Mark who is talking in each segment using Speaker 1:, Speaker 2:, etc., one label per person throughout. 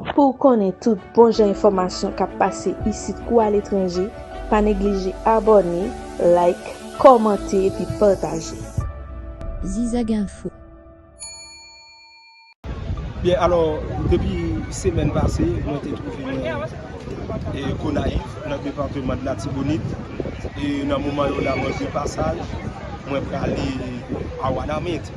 Speaker 1: Pou w konnen tout bon jan enfòmasyon k ap pase isit kou aletranje, pa neglije abòne, like, kòmante epi pataje.
Speaker 2: Zizaginfo.
Speaker 3: Byen alò, depi semèn pase mwen te twouve mwen Gonayiv nan departeman de Latibonit e nan moman yo la mwen de pasaj mwen prale a Wanament.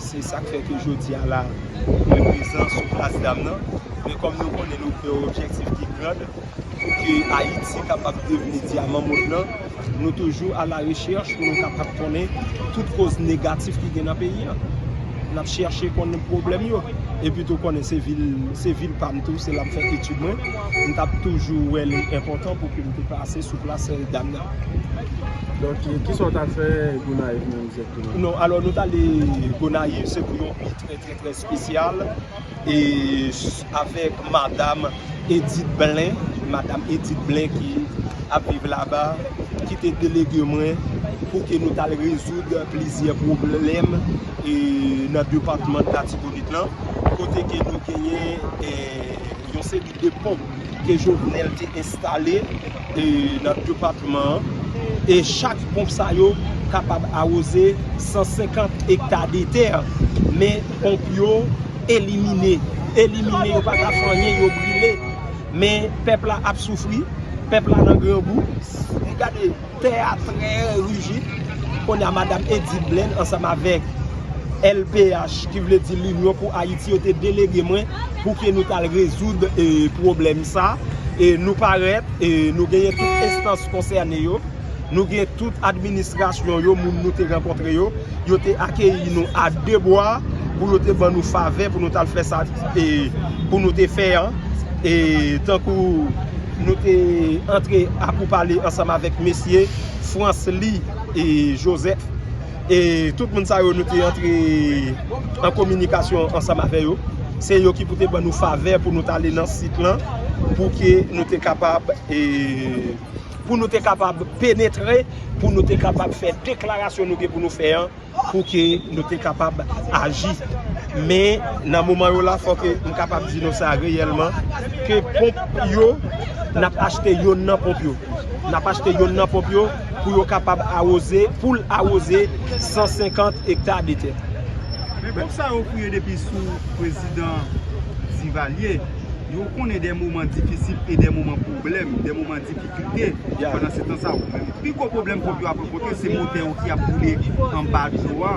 Speaker 3: Se sak fè ke jodi a la mwen prezan sou plas dam nan. Men kòm nou konnen nou gen yon objektif ki grand pou ke Ayiti kapab devni dyaman mond lan, nou toujou a la rechèch pou nou kapab konnen tout koz negatif ki gen nan peyi an. N ap chèche konnen pwoblèm yo. E pi tou konnen se vil, se vil pa m tou, se la m fè etid mwen. M t ap toujou wè li enpòtan pou ke m te pase sou plas dam nan.
Speaker 4: Donk, kisa w ta fè Gonayiv menm? Non alò nou tale
Speaker 3: Gonayiv se pou yon nuit trè trè trè spesyal e avèk madam Edith Blin, madam Edith Blin ki ap viv laba ki te delege mwen pou ke nou tal rezoud plizyè pwoblèm e nan depatman Latibonit lan kote ke nou genyen yon seri 2 ponp ke Jovenel te enstale nan depatman an e chak ponp sa yo kapab awoze 150 ekta de tè men ponp yo elimine elimine yo pa ka fè anyen yo brile men pèp la ap soufri pèp la nan grangou gade Tè a trè rijid, kounye a Madam Edith Blaine ansanm avèk LPH ki vle di L'Union pour Haïti yo te delege mwen pou ke nou tal rezoud pwoblèm sa. Nou parèt, nou genyen tout enstans konsène yo, nou gen tout administrasyon yo, moun nou te rankontre yo, yo te akeyi nou a de bwa pou yo te ban nou favè pou nou tal fè sa pou nou te fè an. Tankou. Nou te antre a pou pale ansanm avèk mesye Francely Joseph. E tout moun sa yo nou te antre an kominikasyon ansanm avè yo. Se yo ki pou te ban nou favè pou nou tale nan sit lan pou ke nou te kapab e pou nou te kapab penetre pou nou te kapab fè deklarasyon nou gen pou nou fè an. pou ke nou te kapab aji. Men, nan moman yo la, fò ke m kapab di nou sa reyèlman, ke ponp yo, n ap achte yonn nan ponp yo. N ap achte yonn nan ponp yo pou yo kapab awoze, pou l awoze 150 ekta de tè. Men ponp sa
Speaker 4: yo kriye depi sou prezidan Divalye. Yo konnen de moman difisil e de moman pwoblèm, de moman difisil. kite pandan se tan sa ou menm. Pi gwo pwoblèm ponp yo ap rankontre se motè yo ki ap boule anba dlo a.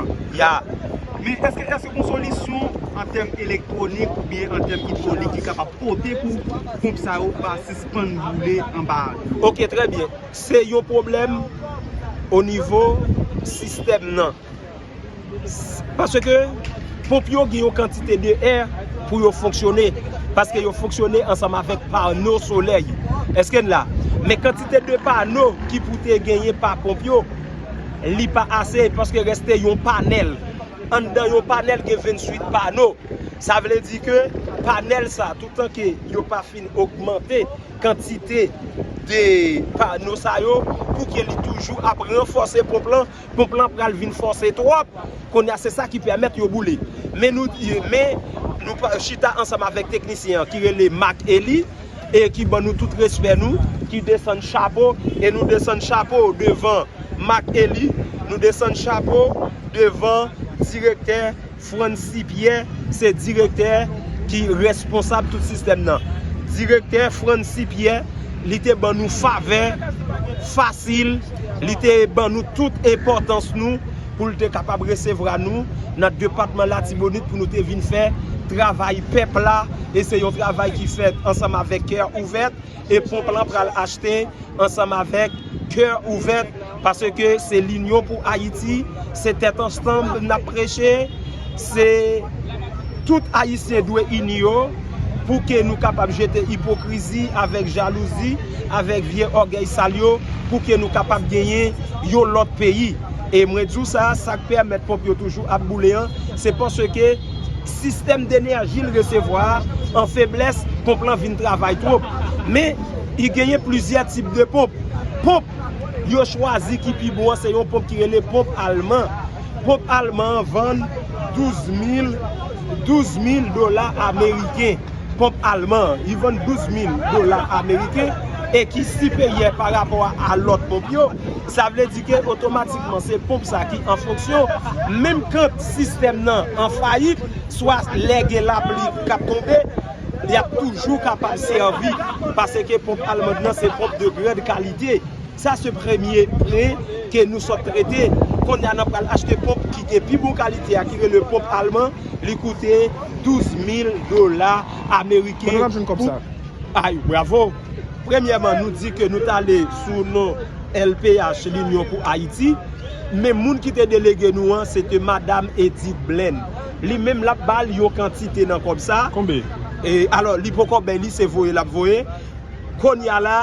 Speaker 4: Men eske eske gon solisyon an tèm elektwonik oubyen an tèm idwolik ki kapab pote pou ponp sa yo pa sispann boule anba dlo? Ok trè byen.
Speaker 3: Se yon pwoblèm onivo sistèm nan. Paske ponp yo gen yon kantite de è pou yo fonksyone. Paske yo fonksyone ansanm avèk pano solèy yo. Eske n la? Men kantite de pano ki pou te genyen pa ponp yo, li pa ase paske reste yon panèl. Anndan yon panèl gen 28 pano. Sa vle di ke panèl sa, toutan ke yo pa fin ogmante kantite de pano sa yo, pou ke li toujou ap ranfòse ponp lan. ponp lan pral vin fòse twòp, kounye a se sa ki pèmèt yo boule. Men nou chita ansanm avèk teknisyen an ki rele Marc Elie e ki ban nou tout respè nou, ki desann chapo e nou desann chapo devan Marc Elie, nou desann chapo devan direktè. Francy Pierre se direktè ki responsab tout sistèm nan. Direktè Francy Pierre li te ban nou favè fasil, li te ban nou tout enpòtans nou pou l te kapab resevwa nou nan depatman Latibonit pou nou te vin fè travay pèp la e se yon travay ki fèt ansanm avèk kè ouvèt. e ponp lan pral achte ansanm avèk kè ouvèt paske se linyon pou ayiti se tèt ansanm nap preche se tout ayisyen dwe ini yo pou ke nou kapab jete ipokrizi avèk jalouzi avèk vye ògèy sal yo pou ke nou kapab genyen yon lòt peyi e mwen di w sa sak pèmèt ponp yo toujou ap boule an se paske Sistèm denèji l resevwa a an feblès, ponp lan vin travay twop. Men, i genyen plizyè tip de ponp. Ponp yo chwazi ki pi bon an se yon ponp ki rele ponp alman. Ponp alman an vann 12 mil, 12 mil dola ameriken. Ponp alman an, i vann 12 mil dola ameriken e ki siperyè pa rapò a lòt ponp yo. Sa vle di ke otomatikman se ponp sa ki an fonksyon menm kant. Sistèm nan an fayit, swa lè gen lapli k ap tonbe, li ap toujou kapab sèvi, paseke ponp almand lan se ponp de grande kalite. Sa se premye pwen ke nou sot trete. Konnya nan pral achte ponp ki gen pi bon kalite a ki rele ponp alman, li koute 12 mil dola ameriken pou. Kote n ap jwenn kòb
Speaker 5: sa? Ay, bravo!
Speaker 3: Premyèman nou di ke nou t ale sou non LPH, Linyon pou Ayiti, men moun ki te delege nou an se te Madam Edith Blaine. Li menm l ap ba l yon kantite nan kòb sa. Konbe?
Speaker 5: Alò, li
Speaker 3: poko bay li, se voye l ap voye. Kounye a la,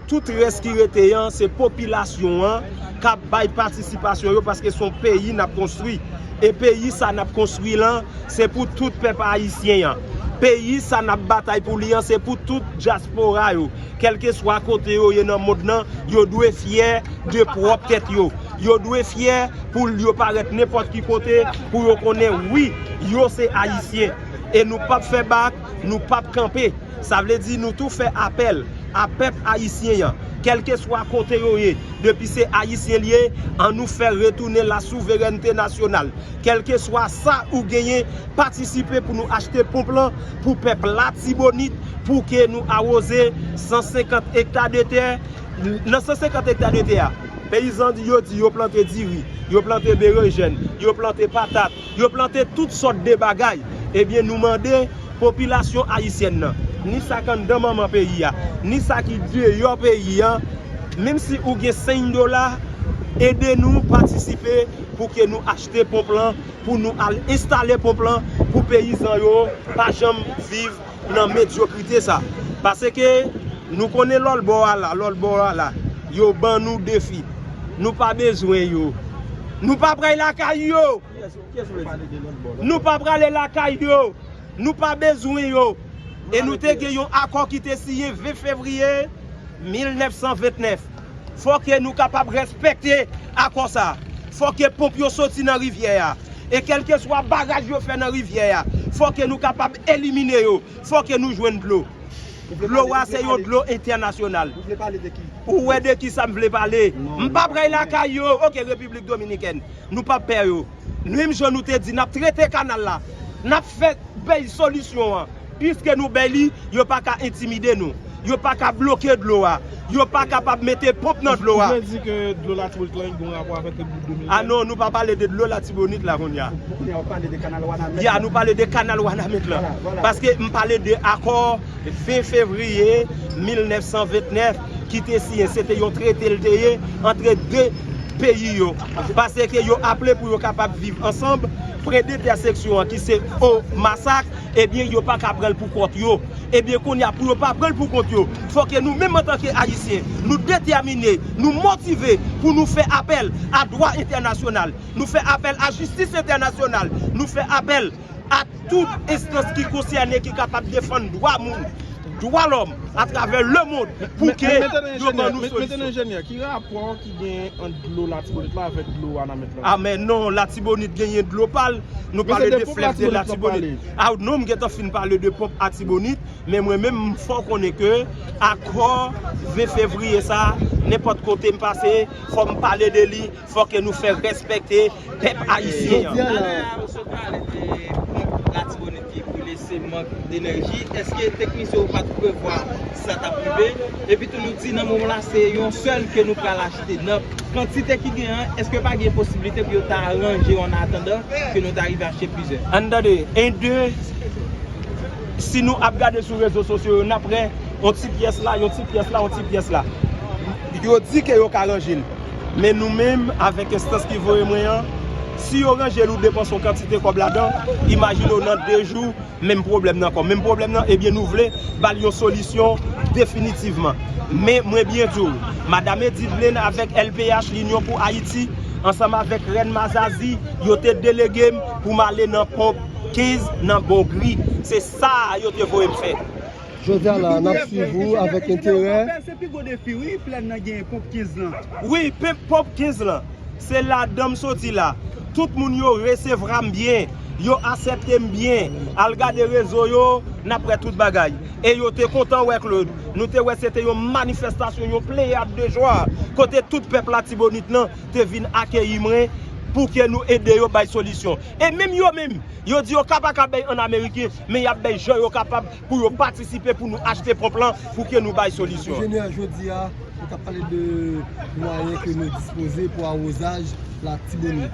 Speaker 3: tout rès ki rete an, se popilasyon an k ap bay patisipasyon yo paske s on peyi n ap konstwi. E peyi sa nap konstwi lan se pou tout pèp ayisyen an. Peyi sa nap batay pou li an se pou tout dyaspora yo, kèlkeswa kote yo ye nan mond lan, yo dwe fyè de pwòp tèt yo. Yo dwe fyè pou l yo parèt nenpòt ki kote pou yo konnen wi yo se ayisyen. E nou pap fè bak. nou pap kanpe, sa vle di nou tou fè apèl a pèp ayisyen an, kèlkeswa kote yo ye, depi se ayisyen li ye, an nou fè retounen la souverènte nasyonal, kèlkeswa sa ou genyen, patisipe pou nou achte ponp lan pou pèp Latibonit, pou ke nou awoze 150 ekta de tè, nan 150 ekta de tè a, peyizan yo di yo plante diri, yo plante berenjèn, yo plante patat, Yo plante tout sòt de bagay. Ebyen nou mande popilasyon ayisyèn nan, ni sa k anndan manman peyi a, ni sa ki deyò peyi an, menm si ou gen 5 dola, ede nou patisipe pou ke nou achte ponp lan, pou nou al enstale ponp lan, pou peyizan yo pa janm viv nan medyokrite sa. Paseke nou konnen lòt bò a la, lòt bò a la. Yo ban nou defi. Nou pa bezwen yo. Nou pa pray lakay yo. Nou pa prale lakay yo. Nou pa bezwen yo. E nou te gen yon akò ki te siyen 20 fevriye 1929. Fò ke nou kapab rèspèkte akò sa a. Fò ke ponp yo soti nan rivyè a. E kèlkeswa baraj yo fè nan rivyè a, fò ke nou kapab elimine yo. Fò ke nou jwenn dlo. Dlo a se yon dlo entènasyonal. Ou vle pale de
Speaker 5: ki? Ou wè de ki sa m
Speaker 3: vle pale? M pa prèy lakay yo. Ok, Repiblik Dominikèn. Nou pa pè yo. Menm jan nou te di n ap trete kanal la, n ap fè bèy solisyon an. Piske nou bèy li, yo pa ka entimide nou. Yo pa ka bloke dlo a. Yo pa kapab mete ponp nan dlo a. Ou vle di ke dlo
Speaker 5: Latibonit lan gen rapò avèk Repilik Dominikèn? A non, nou pa pale de
Speaker 3: dlo Latibonit la kounye a. Pou kounye a ou pale
Speaker 5: de kanal Wanament la? Ya, nou pale de kanal
Speaker 3: Wanament lan. Paske m pale de akò 20 fevriye 1929 ki te siyen se te yon trete l te ye antre 2 peyi yo pase ke yo aple pou yo kapab viv ansanb pre de tè seksyon an ki se o masak e byen yo pa ka pranl pou kont yo e byen kounye a pou yo pa pranl pou kont yo fò ke nou menm antan ke ayisyen nou detèmine nou motive pou nou fè apèl a dwa entènasyonal nou fè apèl a jistis entènasyonal nou fè apèl. ak tout enstans ki konsène ki kapab defann dwa moun, dwa lòm atravè lemond pou ke yo ban nou solisyon. Mèt enjenyè, ki
Speaker 5: rapò ki genyen ant dlo Latibonit la avèk dlo Wanament la? A men non,
Speaker 3: Latibonit genyen dlo pa l, nou pale de flèv de Latibonit. A non, m gentan fin pale de ponp Atibonit, men mwen menm m fè w konnen ke akò 20 fevriye sa, nenpòt kote m pase, fò m pale de li. Fò ke nou fè respekte pèp ayisyen an. Talè a ou sot pale de ponp
Speaker 6: latibonit ki boule se mank denèji eske teknisyen yo pat prevwa sa tap rive epitou nou di nan moman la se yon sèl ke nou pral achte nan kantite ki gen an eske pa gen posibilite pou yo ta ranje yo an atandan ke nou ta rive achte plizyè. Ann tande 1 2
Speaker 3: si nou ap gade sou rezo sosyo yo nap wè yon ti pyès la yon ti pyès la yon ti pyès la yo di ke yo ka ranje l. Men nou menm avèk enstans ki voye mwen an, si yo ranje l ou depanse yon kantite kòb ladan, imajine w nan 2 jou menm pwoblèm nan ankò. Menm pwoblèm nan, ebyen nou vle ba l yon solisyon definitivman. Men mwen byen di w, Madam Edivlin avèk LPH, Linyon pou Ayiti, ansanm avèk Rèn Mazazi, yo te delege m pou m ale nan ponp 15 nan Bongri. Se sa a yo te voye m fè. Jodi a la
Speaker 5: nap swiv ou avèk enterè. Pèp se pi gwo defi wi
Speaker 4: plèn nan genyen ponp 15 lan. Wi pep ponp 15
Speaker 3: lan. Se ladanm soti la. Tout moun yo resevram byen. Yo aseptem byen. Al gade rezo yo nap wè tout bagay. E yo te kontan wè Claude. Nou te wè se te yon manifestasyon yon pleyad de jwa. Kote tout pèp latibonit lan te vin akeyi mwen pouke nou ede yo bay solisyon. E menm yo menm yo di yo ka paka bay an ameriken. men yap bay jan yo kapab pou yo patisipe pou nou achte ponp lan pou ke nou bay solisyon. Monchè Jener, jodi a,
Speaker 7: nou tap pale de mwayen ke nou dispoze pou awozaj Latibonit.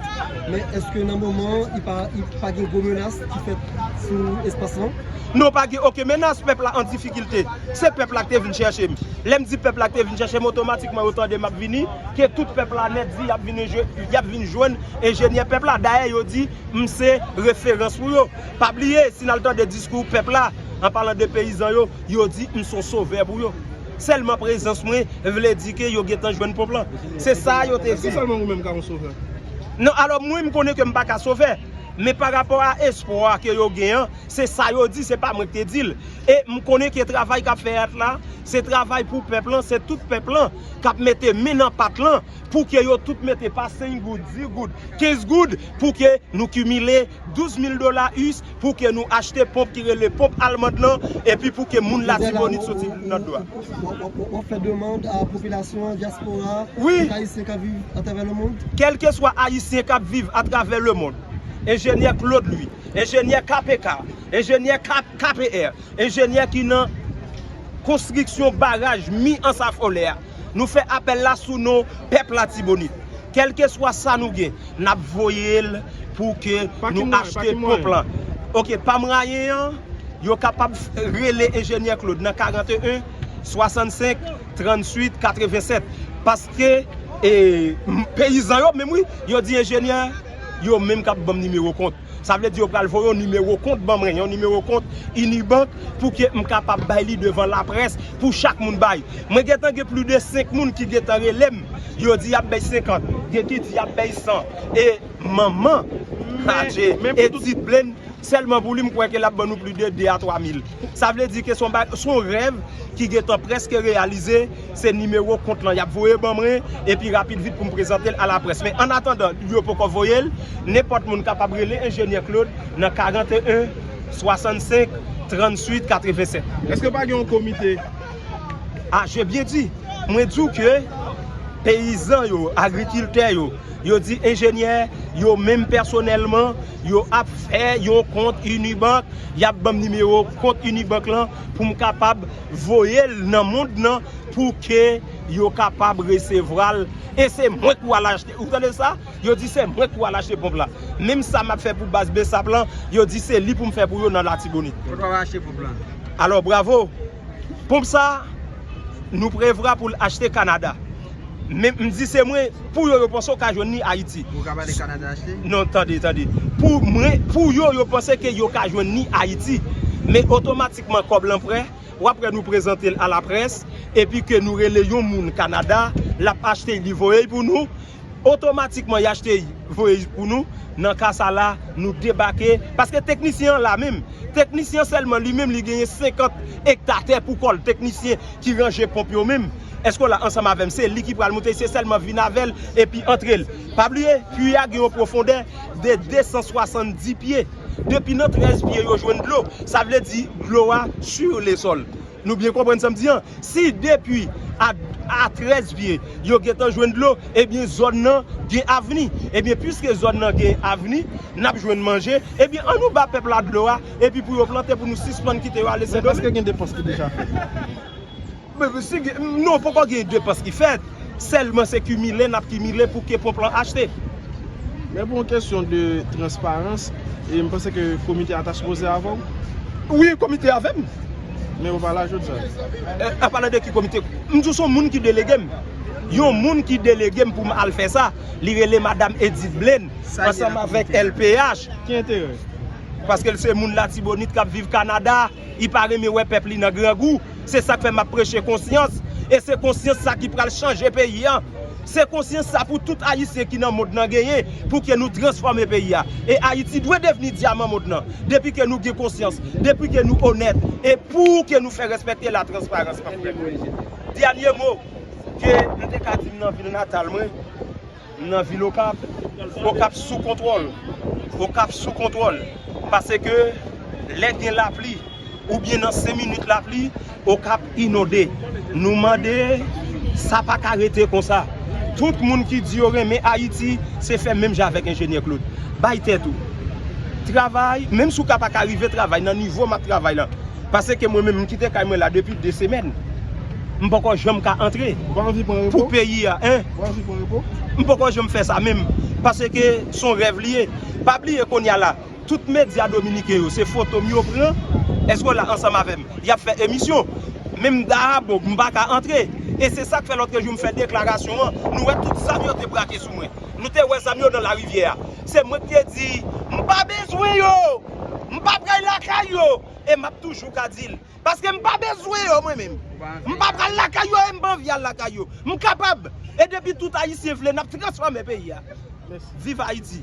Speaker 7: Men, eske nan moman an, pa gen gwo menas ki fèt sou espas lan? Non, pa gen oken
Speaker 3: menas, pèp la an difikilte. Se pèp la ki te vin chèche m. Lè m di pèp la ki te vin chèche m, otomatikman yo tande map vini, ke tout pèp la nèt di yap vin jwenn enjenyè pèp la. Dayè yo di m se referans pou yo. Pa bliye, si n al tande diskou pèp la, an palan de peyizan yo, yo di m s on sovè pou yo. Sèlman prezans mwen vle di ke yo gentan jwenn ponp lan. Se sa a yo te di. Èske sèlman ou menm ka on sovè?
Speaker 5: Non, alò
Speaker 3: mwen m konnen ke m pa ka sovè. Men pa rapò a espwa ke yo gen an, se sa yo di, se pa mwen k te di l. E m konnen ke travay k ap fèt la, se travay pou pèp lan, se tout pèp lan k ap mete men nan pat lan pou ke yo tout mete pa 5 goud, 10 goud, 15 goud pou ke nou kimile. 12 mil dola us pou ke nou achte ponp ki rele ponp almand lan epi pou ke moun latibonit soti nan dlo a. Wap fè
Speaker 7: demand a popilasyon an, dyaspora a, tout ayisyen kap
Speaker 3: viv
Speaker 7: atravè le mond? Wi, kèlkeswa ayisyen
Speaker 3: kap viv atravè le mond, enjenyè Claude Louis, enjenyè KPK, enjenyè KPR, Enjenyè ki nan Konstriksyon Baraj Mi Ansafolè a, nou fè apèl la sou non pèp Latibonit. Kèlkeswa sa nou gen, n ap voye l pou ke nou achte ponp lan. Ok, pa mwayen an, yo kapab rele Enjenyè Claude nan 41 65 38 87. Paske, e, peyizan yo menm wi, yo di enjenyè, yo menm k ap ban m nimewo kont. Sa vle di yo pral voye yon nimewo kont ban mwen, yon nimewo kont Unibank pou ke m kapab bay li devan laprès pou chak moun bay. Mwen gen tan gen plis de 5 moun ki gen tan rele m, yo di y ap bay 50, gen ki di y ap bay 100 e manman Adje e ti Blenn sèlman pou li m kwè ke l ap ban nou plis de 2 a 3 mil. Sa vle di ke s on bagay, s on rèv ki gen tan prèske reyalize. Se nimewo kont lan y ap voye ban mwen, epi rapid vit pou m prezante l alaprès. Men annatandan yo poko voye l, nenpòt moun kapab rele Enjenyè Claude nan 41 65 38 87. Èske pa gen yon
Speaker 5: komite? A
Speaker 3: je byen di! Mwen di w ke peyizan yo, agrikiltè yo, yo di enjenyè, yo menm pèsonèlman, yo ap fè yon kont Unibank, y ap ban m nimewo kont Unibank lan pou m kapab. voye l nan mond nan pou ke yo kapab resevwa l e se mwen ki wal achte ou tande sa yo di se mwen ki wal achte ponp la menm sa map fè pou baz bsap lan yo di se li poum fè pou yo nan latibonit Mwen pap achte ponp la.
Speaker 6: Alò bravo
Speaker 3: ponp sa nou prevra pou l achte kanada men m di se mwen pou yo yo panse yo ka jwenn li ayiti Ou kap ale kanada achte?
Speaker 6: Non tande tande
Speaker 3: pou mwen pou yo yo panse ke yo ka jwenn li ayiti men otomatik. kman kòb lan prè, wap wè nou prezante l a la près, epi ke nou rele yon moun Kanada, lap achte y li voye y pou nou, otomatikman y achte y voye y pou nou, nan ka sa la nou debake, paske teknisyen an la menm, teknisyen sèlman li menm li genyen 50 ekta tè pou kò l, teknisyen ki ranje ponp yo menm, èske w la ansanm avè m, se li ki pral monte, se sèlman vin avè l epi antre l, pa bliye puit a gen yon pwofondè de 270 pye. Depi nan 13 pye yo jwenn dlo, sa vle di dlo a sur le sol. Nou byen konprann sa m di an? Si depi a 13 pye yo gentan jwenn dlo, ebyen zòn nan gen avni. Ebyen puiske zòn nan gen avni, n ap jwenn manje, ebyen an nou ba pèp la dlo a, epi pou yo plante pou nou sispann kite yo ale Sendomeng. Men èske gen depans ki deja
Speaker 5: fèt?
Speaker 3: Non poko gen depans ki fèt, sèlman se kimile nap kimile pou ke ponp lan achte. Men pou
Speaker 5: yon kesyon de transparans, e m panse ke komite a ta sipoze avè w? Wi komite
Speaker 3: a avè m. Men ou pa
Speaker 5: la jodi a? A pale de ki komite?
Speaker 3: M di w se yon moun ki delege m. Yon moun ki delege m pou m al fè sa, li rele madam Edith Blaine, ansanm avèk LPH. Ki enterè?
Speaker 5: Paske l se
Speaker 3: moun latibonit kap viv Kanada. Li pa renmen wè pèp li nan grangou. Se sa k fè m ap preche konsyans. E se konsyans sa ki pral chanje peyi a. Se konsyans sa pou tout Ayisyen ki nan mond lan genyen pou ke nou transfòme peyi a. E Ayiti dwe devni dyaman mond lan. Depi ke nou gen konsyans. Depi ke nou onèt. E pou ke nou fè rèspèkte la transparans. Dènye mo ke m te ka di nan vil natal mwen. M nan vil okap, okap sou kontwòl, okap sou kontwòl, pase ke lè gen lapli ou byen nan 5 minit lapli okap inonde, nou mande sa pa ka rete konsa, tout moun ki di yo renmen ayiti se fè menm jan avèk enjenyè Claude, bay tèt ou travay, menm si w ka pa ka rive travay nan nivo m ap travay lan, pase ke mwen menm m kite kay mwen la depi 2 semèn m poko janm ka antre pou peyi a. M poko janm fè sa menm paske son rèv li ye pa bliye kounya la tout medya dominiken yo se fotom yo pran èske w la ansanm avèm yap fè emisyon menm dayabo m paka antre e se sak fè lotre jou m fè deklarasyon an nou wè tout zam yo te brake sou mwen nou te wè zam yo nan larivyè a se mwen ki te di m pa bezwen yo m pap ray lakay yo e map toujou ka dil. Paske m pa bezwen yo mwen menm. M pa pral lakay yo e m pa anvi al lakay yo. M kapab. E depi tout ayisyen vle n ap transfòme peyi a. Viv Ayiti.